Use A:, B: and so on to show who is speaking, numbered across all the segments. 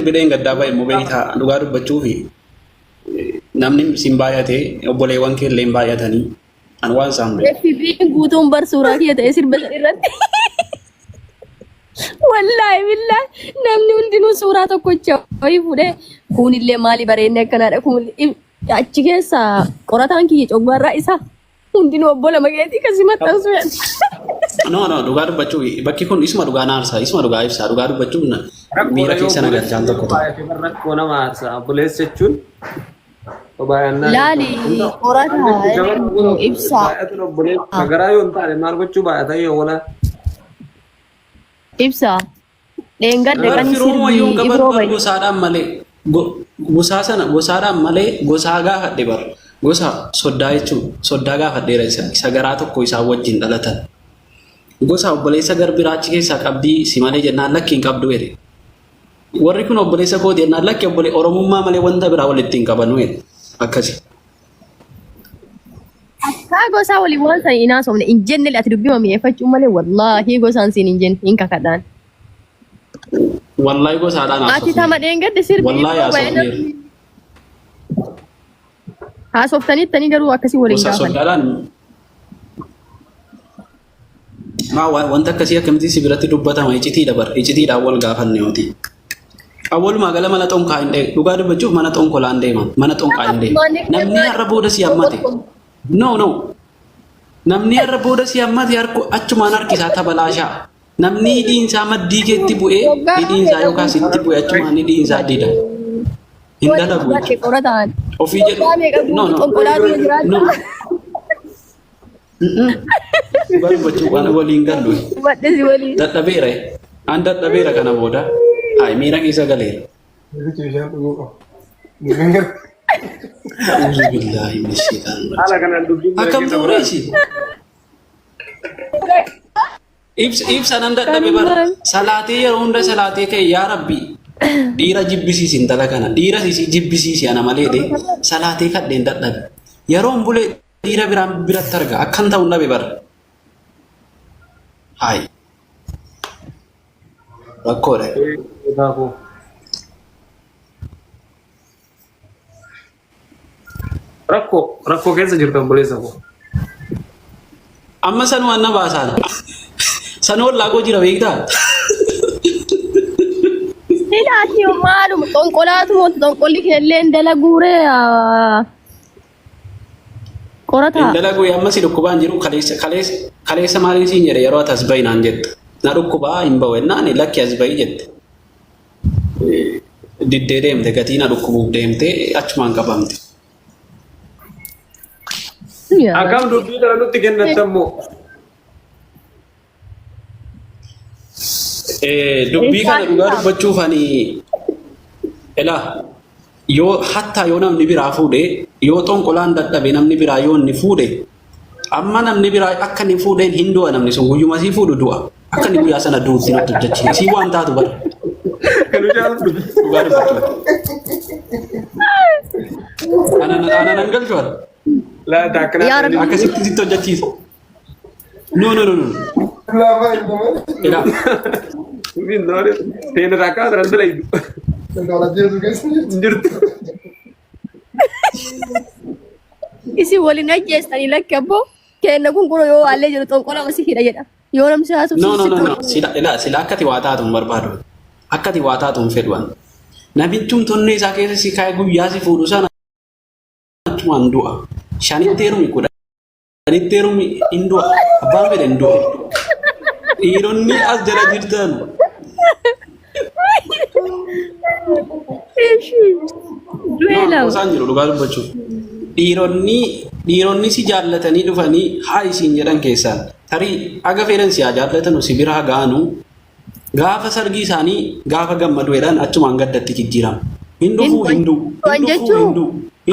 A: Erga dheengaddaa bahe immoo beektaa dhugaa dubbachuuf namni siin baay'ate obboleewwan kee illee hin baay'atanii an waan isaan beeku. FBI'n guutuun bar
B: suuraa kiyya ta'ee sirba san irratti. Wallaahi billaahi namni hundinuu suuraa tokkocha wayii fuudhee kuunillee maali bareedne akkanaadha kuun achi keessa qorataan kiyya coggaarraa isaa Hundinuu obbo lama keetii kasi maxxansuu yaadda. No,
A: no, dhugaa dubbachuu bakki kun isuma dhugaa na aarsa, isuma dhugaa ibsa, dhugaa dubbachuu na- miira keessa na galchaan tokko tokko. Rakkoo nama aarsa.
C: Obboleessa jechuun baay'annaa. Laali
B: qorataa nu ibsaa. Baay'atuun obboleessa. Garaa
C: yoo hin taane maal gochuu baay'ata yoo wala.
B: Ibsaa. Dheengadda Bar qani firooma sirbi yoon gabar ibroo bar baye. gosaadhaan malee
A: go- gosaa sana gosaadhaan malee gosaa gaafadhe bar gosa soddaa jechuun soddaa gaafadheera isa isa garaa tokko isaan wajjin dhalatan gosa obboleessa garbiraa achi keessaa qabdii si malee jennaan lakki hin qabdu jedhe warri kun obboleessa kooti jennaan lakki obbole oromummaa malee wanta biraa walitti hin qabanu jedhe akkasi
B: Kaa gosaa waliin waan sana hin haasofne hin jenne ati dubbii mi'eeffachuu malee wallaahi gosaan siin hin jenne hin kakadhaan. Wallahi
A: gosaadhaan Ati haasofne. tama dheengadde sirbi
B: Wallahi yeroo baay'ee haasofneera.
A: namni
B: haasoftaniittanii garuu akkasii waliin Gosa gaafanne. sodaadhaan
A: Maa wanta akkasii akkamitti si biratti dubbatama icitiidha bar icitiidhaan wal gaafanne yooti. Awwalumaa gala mana xonkaa hin deemu. Dhugaa dubbachuuf mana xonkolaan deema. Mana xonkaa hin deemu. Namni har'a booda si hammate. No no. Namni har'a booda si hammate harku achumaan harkisaa tabalaashaa. Namni hidhiinsaa maddii keetti bu'ee hidhiinsaa yookaan sitti bu'ee achumaan hidhiinsaa dida. Hin dalagu. Ofii jedhu. No no. No. Dhugaa dubbachuuf waan waliin gallu Wadhisi waliin. dadhabeera. An dadhabeera kana booda. Hayi miira keessa galeera. Namichi bishaan dhuguu qaba. Bishaan gara. A'uuzu billaahi min shaytaan Haala kanaan dubbiin jira Akkam keessa ta'u waraana. reesi? Ibsa ibsa nan dadhabe bara. Kanumaan. Salaatee yeroo hunda salaatee ka'e yaa rabbi. Dhiira jibbisiisi intala kana. Dhiira isii jibbisiisi ana malee dee. Salaatee kadheen dadhabe. Yeroon bulee Dhiira biraan biratti arga. Akkan ta'u dhabe bara. Haayi. Rakkoodha. Daakuu.
C: Rakkoo rakkoo keessa jirtu obboleessa koo. Amma
A: san waan na baasaan. San ollaa koo jira beektaa?
B: Ilaati maaluma xonqolaatu moo xonqolli kee illee hin dalaguuree. Qorataa. Hin dalagu amma si
A: dhukkubaan jiru kaleessa kaleessa kaleessa maaliin siin jedhe yeroo ati as bahi naan jette. Na dhukkubaa hin bahu jennaan lakki as bahi jette. Diddee deemte gatii na dhukkubuuf deemte achumaan qabamte.
C: Akkam dubbii kana nutti kennattan moo?
A: Eh, dubbii kana dhugaa dubbachuuf ani ela yoo hattaa yoo namni biraa fuudhe yoo xonqolaan dadhabe namni biraa yoo inni fuudhe amma namni biraa akka inni fuudheen hin du'a namni sun guyyuma sii fuudhu du'a akka inni guyyaa sana du'utti natti hojjechi isii waan taatu bara Kan hojii
C: haala dubbii. dhugaa
A: dubbachuuf ana ana nan galchu bara Laata akkana
C: Yaa Rabbi. akkasitti sitti
A: hojjechiisa No, no, no, no. Lama itu mana? Tidak.
C: Ini nore, tena raka terasa lagi. Kalau dia juga sih. Jujur.
B: Isi waliin ajjeessan lakki abboo kenna kun kun yoo haallee jiru xonqola wasi hidha jedha. Yoo namsi haasuf No, no, no, no. Sila,
A: ila, sila akkati waa taatu hin barbaadu. Akkati waa taatu hin fedhu. Nabichum tonnee isaa keessa si kaa'e guyyaa si fuudhu sana achumaan du'a. Shanitti heerumi kudha. Anitti heerumni hin du'a. Abbaan fedhe hin du'a. Dhiironni as jala jirtan Du'eela. isaan jiru dhugaa dubbachuuf. Dhiironni dhiironni si jaallatanii dhufanii haa isiin jedhan keessaan tarii haga fedhan si haa jaallatanu si bira haa ga'anu Gaafa sargii isaanii gaafa gammadu jedhan achumaan gaddatti jijjiirama. Hin dhufuu hin du'u. Hin dhufuu hin du'u.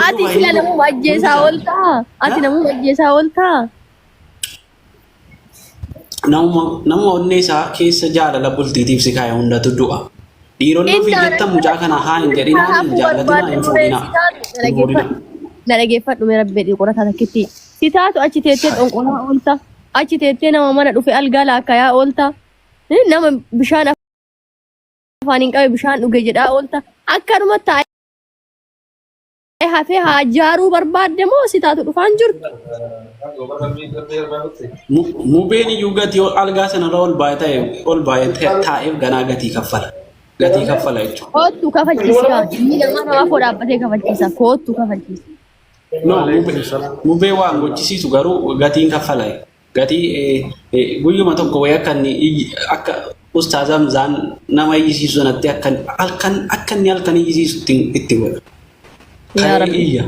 B: Ati sila namuma ajjeesaa ooltaa? Ati namuma ajjeesaa ooltaa?
A: Namuma namuma onnee isaa keessa jaalala bultiitiif si kaa'e hundatu du'a. Dhiironni ofii jettan mucaa kana haa hin jedhinaa hin jaallatinaa hin fuudhinaa. Hin fuudhinaa.
B: Na dhageeffadhu mee rabbi jedhii qorataa takkitti. Sitaatu achi teettee xonqolaa oolta. Achi teettee nama mana dhufe algaa laakkayaa oolta. nama bishaan afaaniin qabe bishaan dhuge jedhaa oolta akkanuma taa'ee hafee haa jaaruu barbaadde moo si taatu dhufaan jirtu
A: Mu- Mubeen iyyuu gatii ol- algaa sanarra ol baay'ee ta'e ol baay'ee ta'e- taa'eef ganaa gatii kaffala. Gatii kaffala jechuudha. koottu kafachiisi kaa
B: inni nama namaa koo dhaabbatee kafachiisa koottu kafachiisa No,
A: mubee, mubee waan gochisiisu garuu gatiin kaffala. Gatii guyyuma tokko wayii akka inni akka ustaaz Hamzaan nama iyyisiisu sanatti akka halkan akka inni halkan iyyisiisu itti itti godha. Yaa Ka'ee
B: Rabbi. iyya.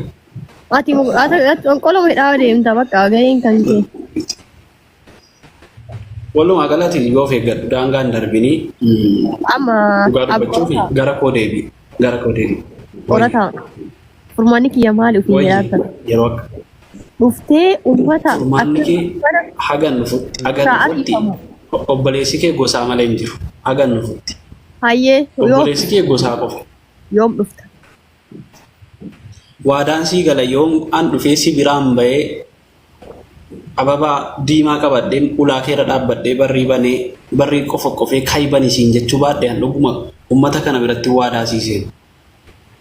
B: Ati
A: mu-
B: ati- ati qonqoloo midhaa deemta bakka gaheen kan kee.
A: Walumaa galatti yoo of eeggadhu daangaan darbinii mm, Amma
B: dhugaa dubbachuuf
A: abbaa gara koo deebi'i. Gara koo deebi. Qorataa
B: furmaanni kiyya maali ofiin Wayyi jedhaa sana. yeroo akka
A: Dhuftee
B: uffata furmaanni akka kee uffata
A: hagan dhufutti hagan sa'aatii dhufutti kamuu. o- obboleessi kee gosaa malee hin jiru hagan dhufutti Hayyee
B: yoo obboleessi kee
A: gosaa qofa. yoom dhufta? Waadaan sii gala yoom an dhufee si biraan bahee Ababaa diimaa qabadheen ulaa keerra dhaabbadhee barrii banee barrii qofoqqofee ka'i bani siin jechuu baadhe an dhuguma ummata kana biratti waadaa sii seena.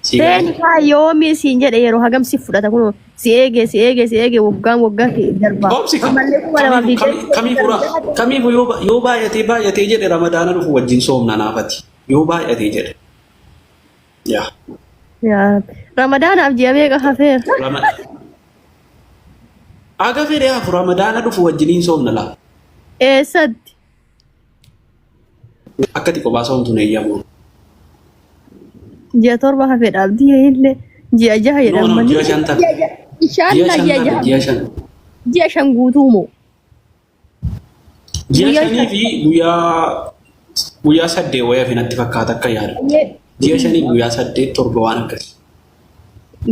A: Sii galee
B: Seeni kaa yoomi siin jedhe yeroo hagam si fudhata kunoo si eege si eege si eege waggaan waggaa kee darba. Obsi ka- Ammallee kuma
A: lamaa fi kamiifu- kami- kamiifu ra- kamiifu yoo ba- yoo baay'atee baay'atee jedhe ramadaana dhufu wajjin soomna naafati yoo baay'atee jedhe yaa
B: Yaa Rabbi. Ramadaanaaf ji'a meeqa hafeera? rama
A: aga fedhe hafu ramadaana dhufu wajjiniin soomna laa Eessatti? akkati kophaa soomtuun eeyyamu
B: Ji'a torba hafeedha abdii illee ji'a jaha jedhan noonu malee. ji'a shan ta'a ji'a
A: Inshaallaa ji'a shan ta'a jaha. ji'a
B: shan Ji'a shan guutuu moo?
A: Ji'a Guyyaa shanii fi guyyaa guyyaa saddeet wayii hafe natti fakkaata akka yaadu. Ji'a shanii guyyaa saddeet torba waan akkasii.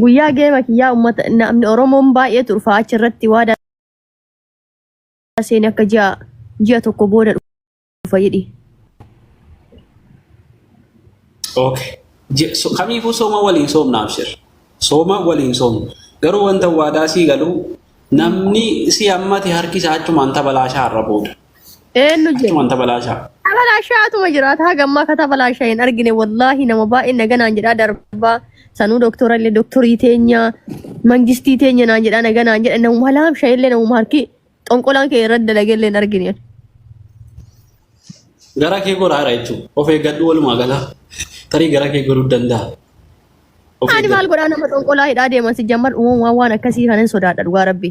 B: Guyyaa geema kiyyaa uummata namni Oromoon baay'ee turfaa achi irratti waadaa seenee akka ji'a ji'a tokko booda dhufa jedhi.
A: Okay. Je- so- Kamiifuu sooma waliin soomna abshir. Sooma waliin soomna. Garuu wanta waadaa sii galu namni si hammate harki isaa achumaan tabalaashaa har'a booda. Eenyu jedhu.
B: Achumaan tabalaashaa.
A: Tabalaashaa atuma
B: jiraata haga ammaa akka tabalaashaa hin argine wallaahi nama baay'een naganaan jedhaa darbaa sanuu doktora illee doktorii teenya mangistii teenya naan jedhaa naganaan jedha nama laamshaa illee nama harki xonqolaan kee irratti dalagee illee hin argine.
A: Gara kee goraadha jechuudha. Of eeggadhu walumaa gala. Tarii gara kee goruu danda'a. Of Ani
B: maal eeggadhu. godhaa nama xonqolaa hidhaa deeman si jammar uumamaa waan akkasii kanan sodaadha dhugaa rabbi.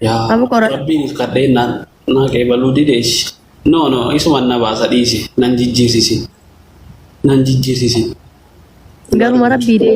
B: Yaa
A: Amma qora- rabbiin kadhee naan naa qeebaluu dideessi. No no isuman na baasa dhiisi. Nan jijjiirsisin. Nan jijjiirsisin.
B: Garuma rabbii dee.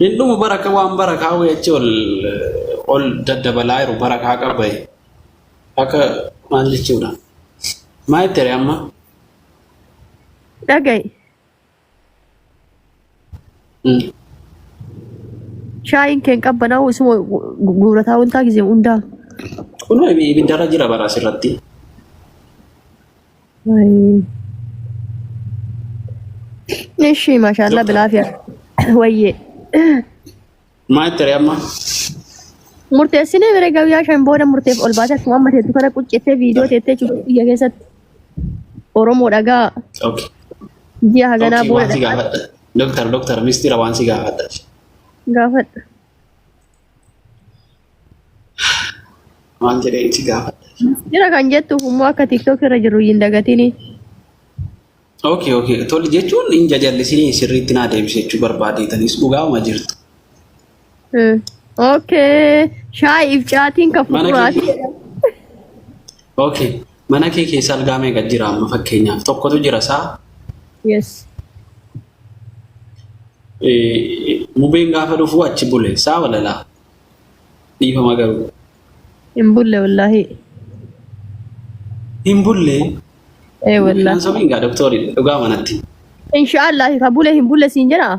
A: Hin dhumu baraka waan barakaa wayii achi ol ol daddabalaa jiru barakaa qabaye akka maal jechuudha. Maa itti hire amma?
B: Dhaga'i. Mm. Shaayiin keen qabbanaa'u isuma guurataa wantaa gisee hundaa. Kun
A: ibiddarra jira bara asirratti.
B: Ishi mashallah bilaa fiya. Wayyee.
A: Maa itti ree amma?
B: Murteessinee bira guyyaa shan booda murteef ol baatee akkuma amma teettu kana quccettee viidiyoo teettee cubbuu biyya keessatti Oromoo dhagaa Okay.
A: ji'a haganaa
B: Okay, waan si booda gaafadha. Doktar, doktar,
A: mistira waan si gaafadha. gaafadha. Maal jedhee itti gaafadha? Jira kan jettuuf
B: immoo akka TikTok irra jiru hin dagatini. Ookee
A: ookee tole jechuun hin jajallisinii sirriitti naa deebise jechuu barbaadeetanis dhugaama jirtu. Hmm. Okay.
B: Shaayiif caatiin kan Mana fuduraa. kee. Ookee
A: Mana kee keessa algaa meeqa jira amma fakkeenyaaf tokkotu jira saa? Yes. Eh, Mubeen gaafa dhufu achi bule saa walalaa dhiifama garuu
B: Hin bulle wallaahi.
A: hin bulle
B: Ee wallaahi. sobiin gaa doktorii
A: dhugaa manatti. Inshaallah
B: ka bule hin bulle siin jedhaa.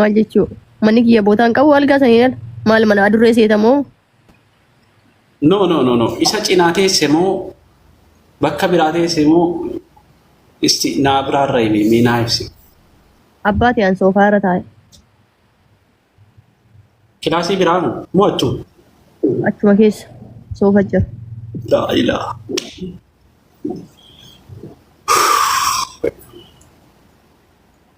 B: Maal jechuu? Manni kiyya bootaa hin qabu algaa sanii dhala. Maal mana adurree seeta moo? No no
A: no no isa cinaa teesse moo bakka biraa teesse moo isti naa biraa irra himi mee naa ibsi. Abbaa
B: tiyaan soofaa irra taa'e.
A: Kilaasii biraa moo moo achuu? Achuma
B: keessa soofa jira. Laa ilaa.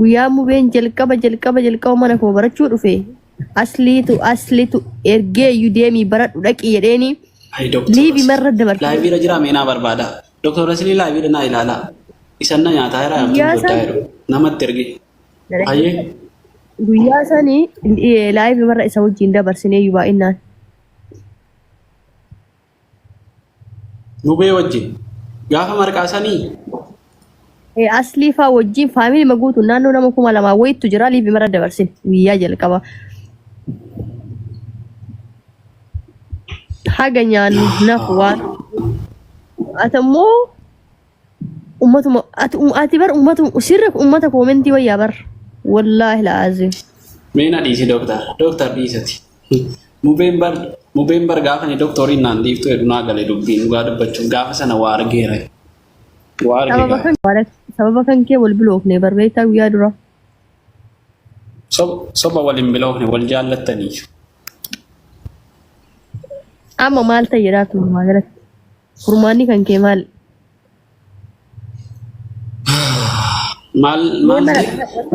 B: Guyyaa mubeen jalqaba jalqaba jalqaba mana koo barachuu dhufe asliitu asliitu ergee iyyuu deemii baradhu dhaqii jedheeni Ayi doktor. liivi marra dabarfame. Laayiviira jira meenaa
A: barbaada. Doktor Rasilii laayiviira naa ilaala. Isan na nyaataa jira yaamtuu Guyyaa goddaa san- jedhu. Namatti ergi. Ayyee. Guyyaa
B: sanii laayivi marra isa wajjin dabarsinee iyyuu baay'inaan.
A: Mubee wajjin. Gaafa marqaa sanii
B: Eh, Aslii faa wajjin faamilii ma guutuun naannoo nama kuma lamaa wayiitu jira liivi mara dabarsin guyyaa jalqaba. Haga nyaannu nafu waan. Ati immoo Ummatuma ati um- ati bar ummatu sirri ummata koomentii wayyaa bar. Wallaahi la'aazim. Mee na dhiisi
A: doktar. Doktar dhiisati. Mubeen bar mubeen bar gaafa ni doktoriin naan dhiiftu jedhu naa gale dubbiin dhugaa dubbachuuf gaafa sana waa argeera. Waa arge Sababa gaafa.
B: kan sababa kan kee wal biloofne bar beektaa guyyaa dura.
A: Sob- Soba waliin biloofne wal jaallattanii.
B: Amma maal ta'e jedhaa turumaa galatti. Furmaanni kan kee maal? Maal maal